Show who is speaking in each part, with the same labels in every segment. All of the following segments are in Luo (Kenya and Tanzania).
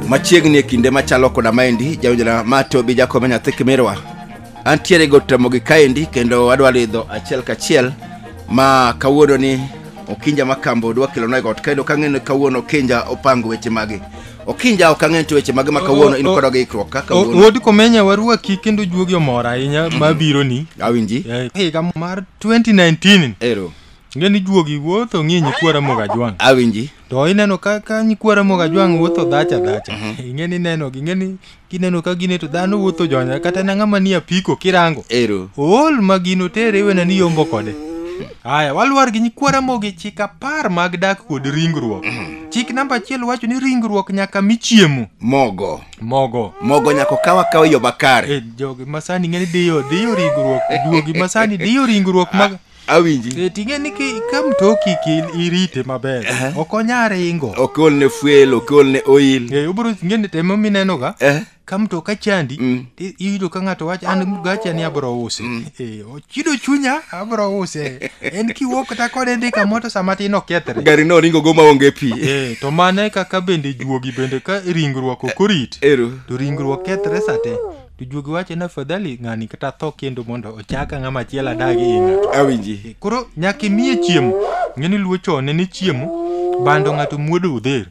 Speaker 1: machiegni e kinde machalo koda maendi jawinjona ma to bi jakome nyathi kimirwa antiere go tamogi kaendi kendo adwa lidho achiel kachiel ma kawuono ni okinja ma kambo dwa kelona e got kendo kang'e ni kawuono okinja opango weche magi okinja ok ang'e nitie weche mage ma kawuono in koda gi ikruok ka kawuono wuod komenya warwaki kendo juogi omor ahinya mabironi awinji Eh, higa mar 2019 ero ing'e ni juogi wuotho ng'i nyikwa ramogi ajwang' awinji to ineno ka ka nyikwa ramogi ajwang' wuotho dhacha dhacha ing'e ni nenogi ing'e ni kineno ka gine to dhano wuotho jonya kata na ng'ama ni apiko kirango ero ool ma gino tere iwena ni yombo kode haya walwar gi nyikwa ramogi chik apar mag dak kod ringruok chik namba achiel wacho ni ringruok nyaka mi chiemo mogo mogo mogo nyako kawa kawa yo bakare e jogi masani ng'eni diyo diyo ringruok duogi masani diyo ringruok mag awinji e ting'e ni ki- ka mtoki ki irite maber Aha. ok onya ringo okol ne fuel okol ne oil e obro ng'eni temo minenoga eh ka mtoka chandi Mm. ti- iyudo ka ng'ato wacho an gacha ni abro usi e ochido chunya abro use en kiwuok kata kode ndika moto sama tin okethre gari no ringo go maonge pi e, to mane kaka bende juogi bende ka ringruok ok orit ero to ringruok kethre sate to juogi wacho ni afadhali ng'ani kata tho kendo mondo ochaka ng'ama chiel adagi e ng'ato awinji koro nyaka imiye chiemo ng'eni luo chon ne ni chiemo bando ng'ato muodo odher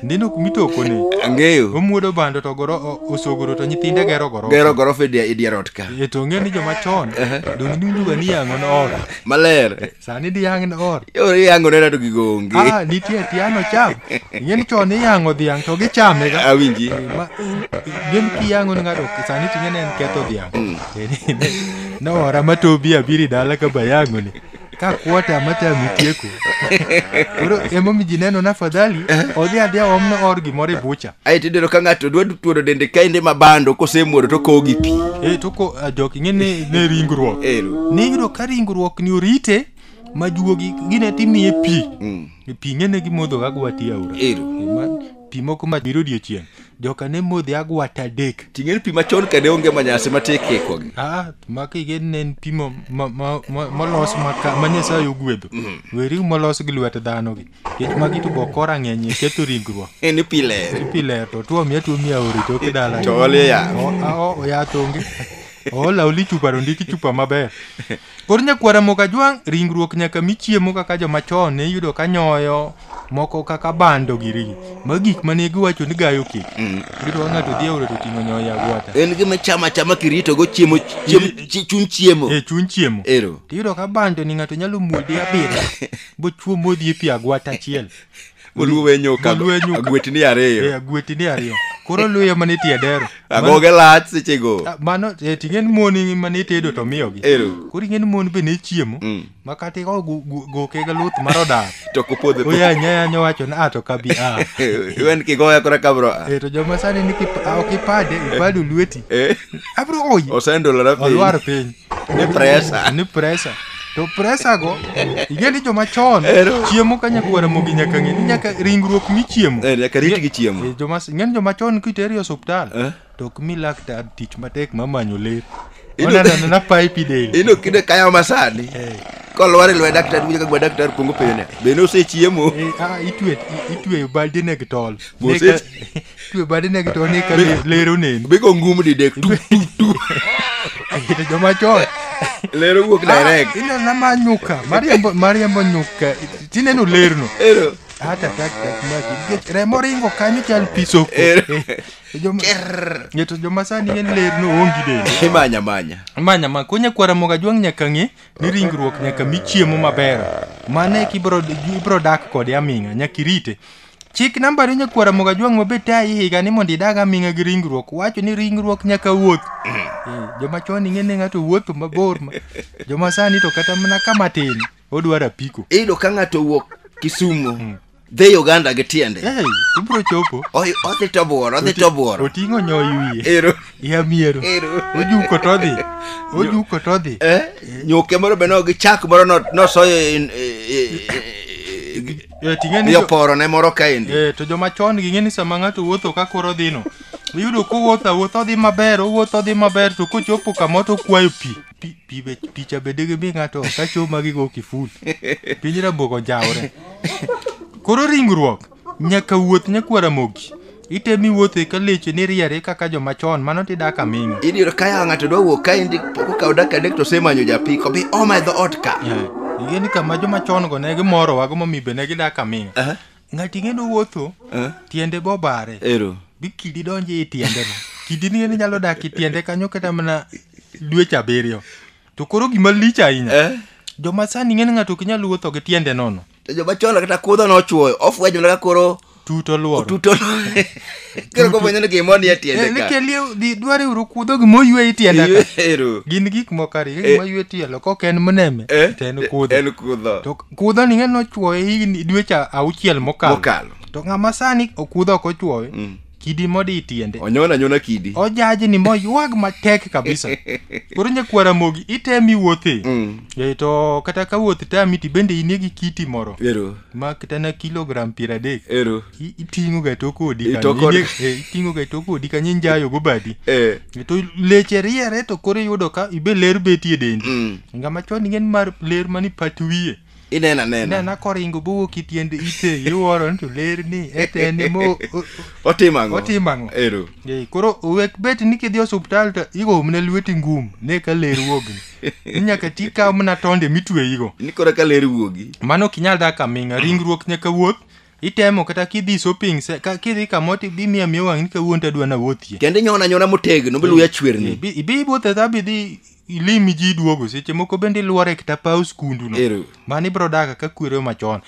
Speaker 1: ndino kumitokone ang'eyo omuodo bando to goro o- osogoro to nyithinde gero goro gero gorofa e dia- e dier ot ka e to ng'e ni joma chon donge niwinjoga ni yang'o ne or maler sani diyang' ne or yore yango nena to gigo onge ah nitie tiano cham ing'e ni chon iyang'o dhiang' to gichame ga awinji ma gin kiyang'o ni ng'ato sani ting'e ne en ketho dhiang' ne ora ma tobi abiri dala ka bayang'oni ka kuota mate amitieko koro emomi ji neno na fadhali odhi adhiya omno or gimoro e bucha ae tidero ka ng'ato dwa tuoro dende kaende ma bando kosemuodo to kowo gi pi e to ko ah, jok ing'e ni ne ringruok Ero. niyudo ka ringruok ni orite ma juogi gine timiye pi Mm. pi ng'e ne gimodhoga gwati aora Ero. E ma- pi moko ma biro odiechieng' joka ne modhi agwata adek ting'e ni pi machon ka ne onge manyasi ma ti kikogi ah makige ne en pi mo- ma- ma- ma- molos maka- ma nyasaye ogwedho weri molos gi lwet dhano gi kech magi to bokora ng'eny e ketho ringruok Eh, ni pi ler pi ler to tuo miya tuo miya ori to kidala to olie yath oya tonge oola oli chupa to ndiki chupa maber Koro nyakwar Ramogi Ajwang' ringruok nyaka mi chiemo kaka joma chon ne iyudo ka nyoyo moko kaka bando giri. Magi gik mane giwacho ni gayo kik. Iyudo ka ng'ato dhi e aora to oting'o nyoyo e agwata. En gima chama achama kirito go chiemo chiemo chi- chuny chiemo. E chuny chiemo. Ero. Tiyudo ka bando ni ng'ato nyalo muode abiriyo bochuo modhi e pi agwata achiel. Oluwe nyoka Oluwe nyoka. agwetni Eh, ariyo. agwetini ariyo koro luya mana e tiedero Agoge lach sechego. Ah, mano eh, ting'e ni mon mane itedo to miyogi Ero. koro ing'e ni mon be ne chiemo Mm. ma kata ikawo gu- gu- goke ga luth mar odar To kopodhe po. oyanya yanya wacho ni a to kabi a Iwen kigoya kora kabro. a. Eh, to joma sani ni kip- a, ok ipade ipado lweti Eh. abro oyi Osendolora piny. olwar piny Ni presa. ni presa to presa go ing'e ni joma chon Ero. chiemo ka nyakwara mogi nyaka ng'e ni nyaka ringruok michiemo Eh, nyaka rit gi chiemo. Eh, joma ing'e ni joma chon kiteri e osuptal Eh. to ok mi laktar tich matek ma manyo ler Ino- onanano na pipe del Ino kinde kayo masani. Eh. Kolwar e lwedo daktari winjo ka gwa daktari kuongo penjo ne. Be ne osechiemo? Eh, ah, itwe- i- itweyo baldine gi tol Mose- Ne ka- twe bade ne gito ni ka le- lero neni Bigo ngum didek tu tu tu. to joma chon Lero wuok direct. ino na ma nyuka mariambo mariambo nyuka tineno lerno Ero. hata tak tak maki nikech remo ringo kanyo chal pisoko Ero. joma ngeto joma sani en lerno ongi dende Imanya manya. manya ma konya kwara moga jwang nyaka ng'e ni ringruok nyaka mi chiemo maber mane kibro ibro dak kode aming'a nyaka irite Chik nambari nyakwar Ramogi Ajwang' ma be tayi higa ni mondo idag aming'a gi ringruok. Wacho ni ringruok nyaka wuoth. Eh, Joma chon ing'e ni ng'ato wuotho mabor. ma- Joma sani to kata mana kama tin odwaro apiko. iyudo ka ng'ato owuok kisumu dhi uganda gi tiende Eh, ibro chopo. Oy- odhi to buoro odhi to buoro Oting'o nyoy wiye. ero Ya miero. Ero. Ojuko to odhi. Ojuko to odhi. eh, nyuke moro be no gi chak moro no- nosoyo in- e- e- e- Eh, ting'e ni jo- yoporo ne moro kaendi Eh, to joma chon gi ng'eni sama ng'ato wuotho ka koro dhino iyudo kowuotho awuotho odhi maber owuotho odhi maber to kochopo kama to okwayo pi Pi- pi be- picha bende gimi ng'ato ok acho magigo kiful piny raboko njawre koro ringruok nyaka wuoth nyakwara mogi Itemi wuothe ka leche ni riere kaka joma chon mano ti dak aming'a. In yudo ka yawa ng'ato dwa wuok ka endi pok okawo dak adek to osemanyo japiko bi oma e dhoot ka. Ing'e ni kama joma chon go ne gimorowa go momiyo be ne gidak aming'a. Aha. Ng'ato ing'e ni owuotho Eh? tiende be obare. Ero. Bi kidi donjo e tiende no. Kidi ni ni nyalo dak e tiende kanyo kata mana dweche abiriyo. To koro gima lich ahinya. Eh? Joma sani ing'e ni ng'ato ok nyal wuotho gi tiende nono. to joma chon kata kudho nochuoyo ofwenyo mana ka koro tut oluoro otuto koro kofwenyo ni gimoro ni e tiende ka nikelie dware uru kudho gima oywe itienda ka Ero. gin gik moko ariyo Eh. gima oywe tielo kok en mneme Eh, to en kudho en kudho to kudho ni ng'e nochuoye higni dweche auchiel mokalo mokalo to ng'ama sani okudho ok ochuoye Mm. kidi modi itiende onyona nyona kidi ojaji ni moywag matek kabisa koro nyakwar amogi itemi wuothe Mm. e, to kata ka wuoth tami ti bende inie gi kiti moro ero ma kata na kilogram piero adek ero I- iting'o ga tok odi kanyo. Itoko- Inie- eh, iting'o ga tok odi kanyo injayo go badi eh E, to leche riere to koro iyudo ka ibe ler betie dendi mm. ngama chon ingen mar ler mani pat wiye inena nena nena koringo bowuok ki tiend ite iwuoro ni to ler ni etene mo o- o- otimo ang'o Otimo ang'o? ero Ee, koro owek bet ni kidhi osuptal to igo mna lweti ngum ne ka ler wuogni ni nyaka ti kaw mna tonde mitweyigo ni koro ka ler wuogi mano ok inyal dak aming'a ringruok nyaka wuoth itemo kata kidhi shopping se- ka- kidhi kamoro to bimiyo amiya wang' ni kawuono to adwa nawuothie kendo inyono anyona motegno bi luya chwerni Ibi- ibi iwuothe dha bidhi ilimi ji duogo seche moko bende iluore kata paw skundu no Ero. mano ibro daga ka kwero machon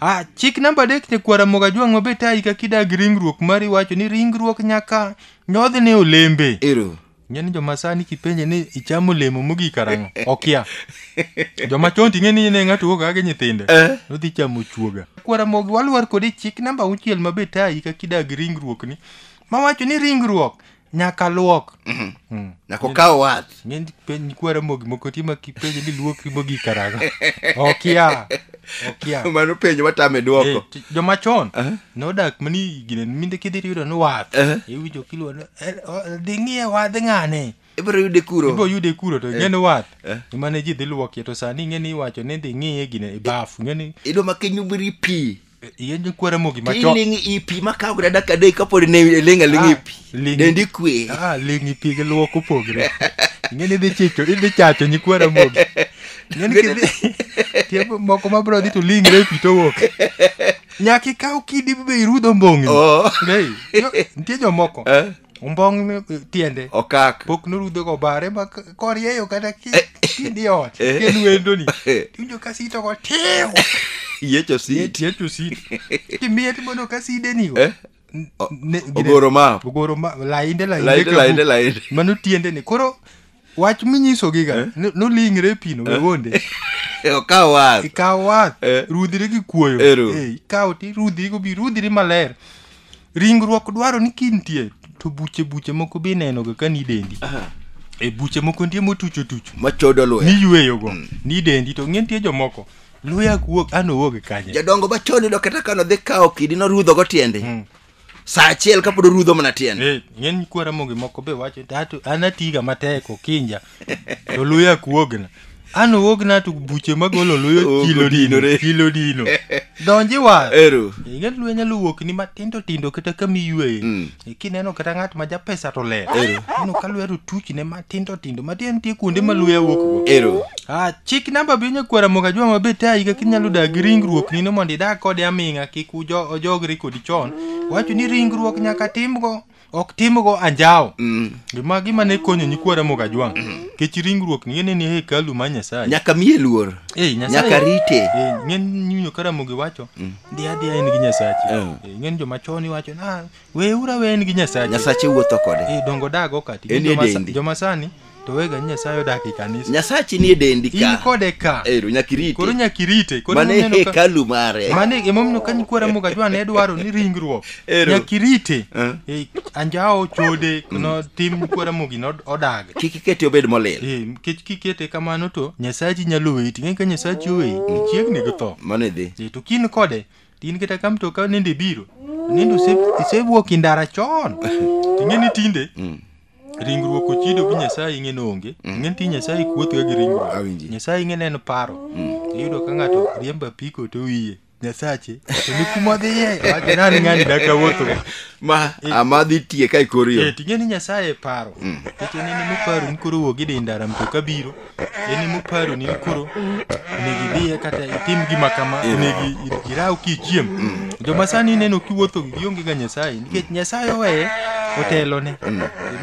Speaker 1: ah chik namba adek nyakwara moga jwang' mabe tayi kaka idag ringruok mari wacho ni ringruok nyaka nyodh ne olembe Ero. ing'e ni joma sani kipenje ni ichamo olemo mogik karang'o okia joma chon ting'e ni ne ng'ato wuok kaka gi nyithinde Eh. nodhi chamo chuoga kwara mogi walwar kode chik namba auchiel mabe tayi kaka idag ringruok ni mawacho ni ringruok nyaka luok nyaka okaw wath ng'eny penj kwara mogi moko tima kipenjo ni luokri mogi karago okia okia mano penjo matame Eh, dwoko ti- joma chon nodak mani gine minde kidhi tiyudo ni wath Eh. iwinjo kiluwa ni "Eh, o- dhi ng'iye wadh ng'ane ibiro yude ibo kuro yude kuro to ing'e ni wath Eh. emane ji dhi luokie to sani ing'e ni iwacho ni dhi ng'iye gine e bafu ing'e ni idwa ma kiny ubiri pi Yende kwa Ramogi macho. Tiling ipi makawo grada kadei kapod ne lenga lingi ah, ipi. Lingi. Dendi kwe. Ah, lingi ipi ke luoko pogre. Ngene dhi chicho, idhi chacho nyi kwa Ramogi. Ngene kidhi. Tiembo moko ma bro dhi to lingi re ipi to wok. Nyaki kaw kidi bibe irudo mbongi. Oh. Nei. Ntie jo moko. Eh. ombong ni- tiende okak pok norudho go bare ma k- korieyo kata ki- kindi ot Eh. kendo wendoni Eh. tiwinjo ka sito go tiw yecho si tiecho sito timiye timono ka sidenigo Eh. N- O- ne- gine- ogoro map ogoro ma lainde lainde lainde ka lainde bu- lainde mano tiendeni koro wach minyisogi ga ni- nolingre e pino wegonde okaw wath ikaw wath Eh. rudhiri gi kuoyo Ero. Eh, ikaw ti rudhiri gobi rudhiri maler ringruok dwaro ni kintie to buche buche moko be inenoga ka ni dendi e buche moko nitie motucho tucho machodo luya niyweyogo ni dendi to ng'e nitie jomoko luya wuok an owuok kanye jadongo machon yudo kata kano dhi kawo kidi norudhogo tiende saa achiel kapod orudho mana tiende Eh, ng'eny nyikwa ramogi moko be wacho ni "Ato- an atiga matek okinja to luya kuogna an owogna to buche magolo luyo Ogo kilo dino dinore. kilo dino donji wa ero ing'e luya nyalo wuok ni matindo tindo kata kama iyueye kineno kata ng'at ma japesa to ler ineno ka luya to tuchne ma tindo tindo matiende nitie kuonde ma luya wuokgo ero Ah, chik namba bi nyakwara moga jwa mabe ta higa kinyalo dak gi ringruok nino mondo idag kode aming'a kik ujo- ojogri kodi chon wacho ni ringruok nyaka timgo ok timgo anjawo Mm. gima gima ne konyo nyikwara moga jwang kech ringruok ni ne ni hekalu ma nyasaye nyaka miye luor Eh, Nyasaye- nyaka rite Eh, ng'eny nyinyo karamogi wacho ndi adhiya en gi nyasachi Eh. Eh, ng'eny joma chon iwacho na weuru awe en gi nyasache nyasache wuotho kode Eh, dongo dago kati En Joma sa- edendi. joma sani to wega ni nyasaye odak e kanisa nyasachi nie dendi in ka kode ka ero nyaka irite koro nyaka irite Koro mane ineno ka- hekalu mare mane emomiyo ka nyikwa ramoga jwa ne dwaro ni ringruok Ero. nyaka irite Eh. Eh, anjawo chode no tim nyikwa ramogi no odag kik ikete obed molil Eh, nikech kikete kamano to nyasachi nyalo weyi ting'e ka nyasachi oweyi chiegni gi tho mano idhi Eh, to kin kode To in kata ka mtoka nende ibiro, nende ose- isewuok e ndara chon. Ing'e ni tinde Mm. ringruok ochido gi Nyasaye ing'e ni onge. Ing'e ni ti Nyasaye kuothoga gi ringruok. Awinji. Nyasaye ing'e ni en paro. Iyudo ka ng'ato riembo apiko to wiye. Nyasache, to ni kuma odhiye, wacho nani ng'ani dak awuotho. Ma ama dhi tie ka ikor yo. Eh, ting'e ni Nyasaye e paro. Nikech en en emoparo ni koro wuog idhi ndara mtoka biro. en ema oparo ni koro onego idhiye kata itim gima kama onego i- iraw kichiem joma sani ineno kiwuotho gi gionge ga nyasaye nikech nyasaye oweye otelone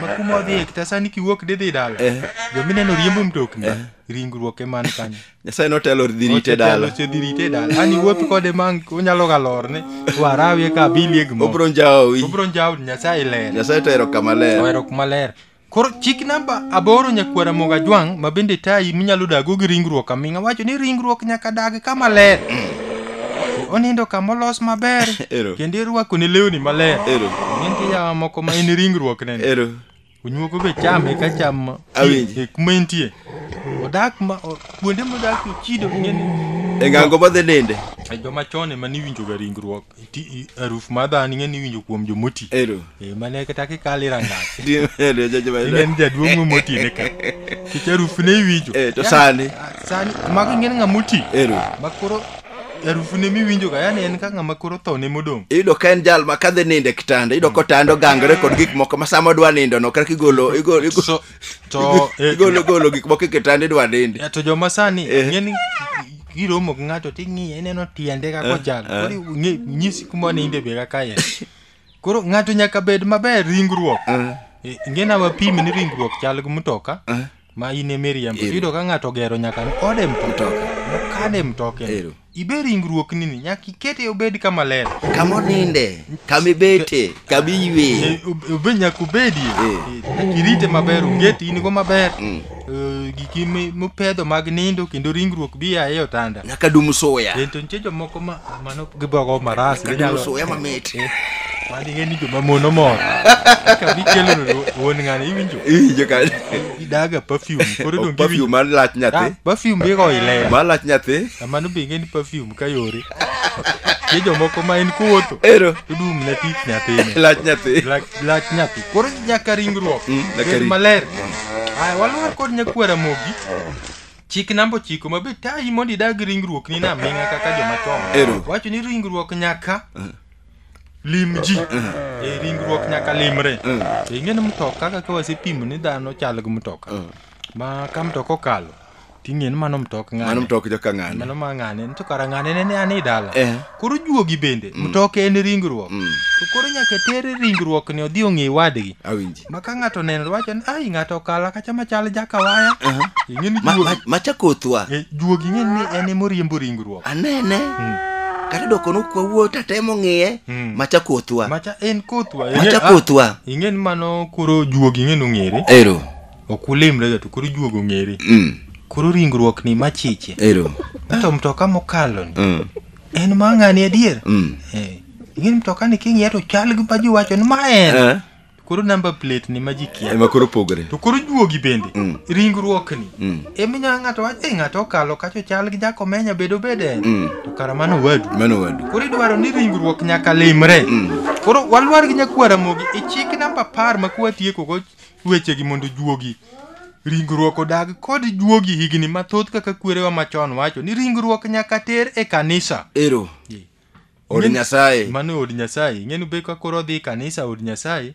Speaker 1: ma kuma odhiye kata sani kiwuok didhi dala Eh. joma ineno riembo mtokni ringruok eman kanyo nyasaye notelo dhi rite dala osedhi rite dala ani wuoth kode ma onyalo ga lorne warawie ka abilie gimoro obro njawi obro njawo nyasaye ler nyasaye to ero kama ler ohero kuma ler Koro chik namba aboro nyakwara moga jwang' ma bende tayi minyalo dago gi ringruok aming'a wacho ni ringruok nyaka dag kama ler. Onindo kama olos maber Ero. kendo irwako ne lewni maler. Ero. Nitie yawa moko ma en ringruok nene. Ero. Onyuogo be chame ka cham Awinji. e kuma entie. Odak ma o- kuonde modak ochido ng'eni. E ng'ango ma dhi ninde. E joma chon ema niwinjoga ringruok. aruf ma dhano ing'e ni iwinjo kuom jomoti ero e, mane kata kikale rangach inen jaduong' mo moti ne ka kech aruf ne iwinjo e, to sani sani mago ing'e ng'a moti ero makoro harufu ne miwinjo ga yani en ka ng'ama koro tho ne modong' iyudo ka en jal ma kadhi nindo e kitanda iyudo kotando gangre kod gik moko ma sama odwa nindono kaka igolo igolo to eh, igolo golo gik moko e kitanda idwa nindi ya, to joma sani Eh. ng'eni giromo gi ng'ato ting'iye ineno tiende kaka Eh, ochal eh. koro ing'e- nyisi kuma ninde be kaka en koro ng'ato nyaka bed maber ringruok Eh, ingena wapimi ni ringruok chal gi mtoka ma in e miriambo Eh. iyudo ka ng'ato ogero nyaka ni ode mtoka Mtoka. mokane mtoke Ero. ibe ringruoknini nyaka ikete obed kama ler kama oninde kama ibete kama iyweye Eh, ob- obe nyaka obedie Eh. Eh, nyaka irite maber onget in go maber Mm. Eh, giki mi- mipedho mag nindo kendo ringruok bi aye otanda nyaka dum suya Eh, to nitie jomoko ma mano gibogo maras nyaka dum suya mamit manige ni joma mono mor ka bikelo wuon ng'ani iwinjo Iwinjo ka- daga perfume koro dong perfume giwinjo mar lach nyathi Ah, perfume bigo ilea mar lach nyathi amano be ing'e ni perfume ka yore tie jomoko ma en kuwotho ero tudum ne tich nyathini lach nyathi lach lach nyathi koro nyaka ringruok Mm, nyaka bed ring- maler aya walwar kod nyakwara mogi chik namba ochiko ma be tayi mondo idag ringruok ni naming'a kaka joma chon Ero. wacho ni ringruok nyaka lim ji e ringruok nyaka limre to ing'e ni mtoka kaka wasepimo ni dhano chal gi mtoka ma ka mtoka okalo ting'e ni mano mtok ng'ane mano mtok joka ng'ane mano ma ng'ane ni to kara ng'ane ne ne an e dala Eh. koro juogi bende mtoka en ringruok to koro nyaka ter ringruok ni odhi ong'e wadgi awinji ma ka ng'ato oneno to wacho ni ai ng'ato okala kacha machal jakawaya ing'e ni Ma- juogi ma- macha kothwa Eh, juogi ing'e ni en ema oriembo ringruok anene kata doko nokwa wuo tatemo ng'iye Mm. macha kothwa macha en kothwa ing'e- macha ah, kothwa ing'e ni mano koro juogi ing'e ni ong'ere ero ok ulimrega to koro juogi ong'ere Mm, koro ringruok ni machiche ero to mtoka mokalo ni Mm, en ma ng'ani adier mm. Eh, ing'e ni mtoka ni king'iye to chal gi ma ji wacho ni ma en Eh, To Koro number plate ni ma ji kia. ema koro pogore To koro juogi bende. Mm. Ringruok ni. Mm. Emi nya ng'ato wacho "Eh, ng'ato okalo kacho chal gi jakomenya bedo bede. Mm. To kara mano wadu. mano wadu Koro idwaro ni ringruok nyaka limre. Mm. Koro walwar gi nyakwara mogi e chik namba apar ma kwatieko go wechegi mondo juogi ringruok odag kod juogi higni mathoth kaka kwerewa machon wacho ni ringruok nyaka ter e kanisa. ero Ji. od Ing'eni- nyasaye mano e od nyasaye ing'eni be ka koro odhi e kanisa od nyasaye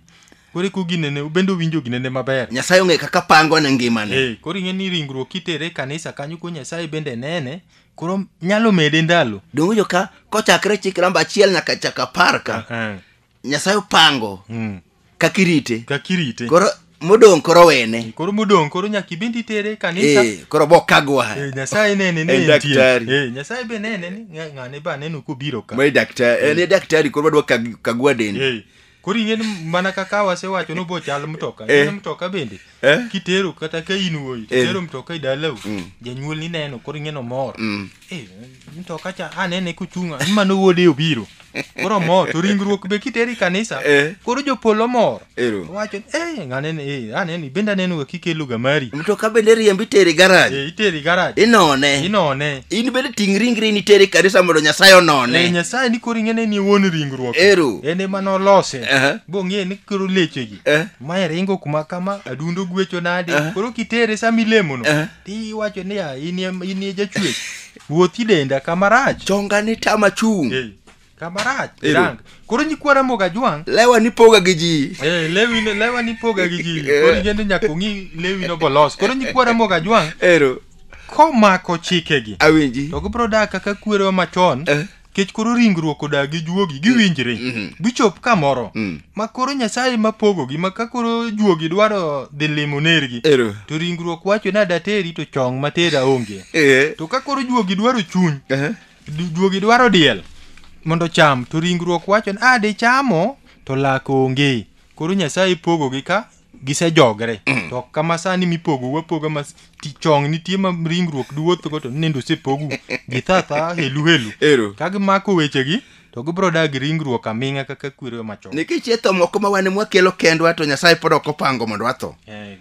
Speaker 1: koro eko ginene ubende owinjo ginene maber nyasaye ong'e kaka pango ne ngimane Eh, koro ing'eni ringruok kitere e kanisa kanyo ko nyasaye bende nene koro nyalo mede ndalo donge jo ka kochakre chik namba achiel nyaka chaka apar ka Eh, nyasaye opango Mm. kaka irite Kaka irite. koro modong' koro wene Koro modong' koro nyaka ibende itere e kanisa. Eh, koro bokagwa Eh, Nyasaye nene ni En entie. daktari. Eh, Nyasaye be nene ni ng'a- ng'ane ba neno kobiro ka. mae daktari en e daktari koro wadwa kag- kagwa dende Eh, Koro ing'e ni mana kaka wasewacho ni obochal mtoka. Eh. Ing'e ni mtoka bende. Eh? kitero kata ka in wuoyi Eh. kitero mtoka e dalau Mm. janyuol ni neno koro ing'e nomor Mm. Eh, mtoka cha anene kochunga ni mano wuode obiro koro mor to ringruok be kitero e kanisa Eh. koro jopolo mor Ero. wacho ni, eh ng'anene eh anene bende anenoga kikeloga mari mtoka bende riembi teri garaj Eh, itere garaj inone inone in bende ting' ringri ni teri kanisa mondo nyasaye Eh, onone nyasaye ni koro ing'e ni en wuon ringruok Ero. en ema nolose Aha. bong'e ni koro lechegi Eh. mae ringo kuma kama adundo gwecho nade Eh. koro kitere sama ilemono Eh. tiwacho niya inie inie jachwech wuothi denda kama rach chonga ni tama chung Eh, kama rach Ero. rang koro nyikwa ramoga jwang' lewa ni poga gi ji Eh, lewi no- lewa ni poga gi ji Eh. koro igende nyaka ong'i lewi no bolos koro nyikwa ramoga jwang' ero komako chikegi awinji to gibro dak kaka kwerewa machon Eh. kech koro ringruok odagi juogi giwinjre Mhm. gichop kamoro Mm. ma koro nyasaye ma pogogi ma ka koro juogi dwaro dhi limo nergi Ero. to ringruok wacho ni adateri to chong matera onge Eh. to ka koro juogi dwaro chuny Eh. du- juogi dwaro diel mondo cham to ringruok wacho ni a dichamo to lak onge koro nyasaye pogogi ka gisejogre to ok kama sani mipogo wapoga ma ti- chong nitie ma ringruok duwuothgo to nende osepogu githatha helu helu Ero. ka gimako wechegi to gibiro dagi ringruok aming'a kaka kwero machon nikech e tho moko ma wane mwakelo kendwa to nyasaye pod ok opango mondo watho Eh,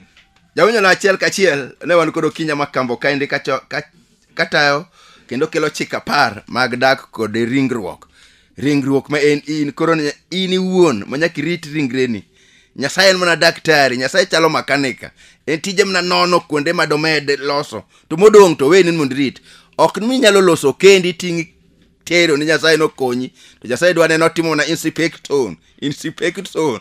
Speaker 1: jawinyola achiel kachiel ne wan kod okinya makambo kaendi kacho- ka- katayo kendo kelo chik apar mag dak kod ringruok ringruok ma en in koro ni- in iwuon ma nyaka irit ringreni nyasaye en mana daktari nyasaye chalo makanika en tije mana nono kuonde ma domed loso to modong' to weni ni mondo irit ok ni inyalo loso kendi iting' tero ni nyasaye nokonyi to nyasaye dwa neno timo na inspection inspection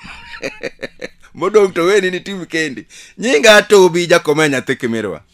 Speaker 1: modong' to weni ni tim kendi nyinga tobi jakomea nyathi kimirwa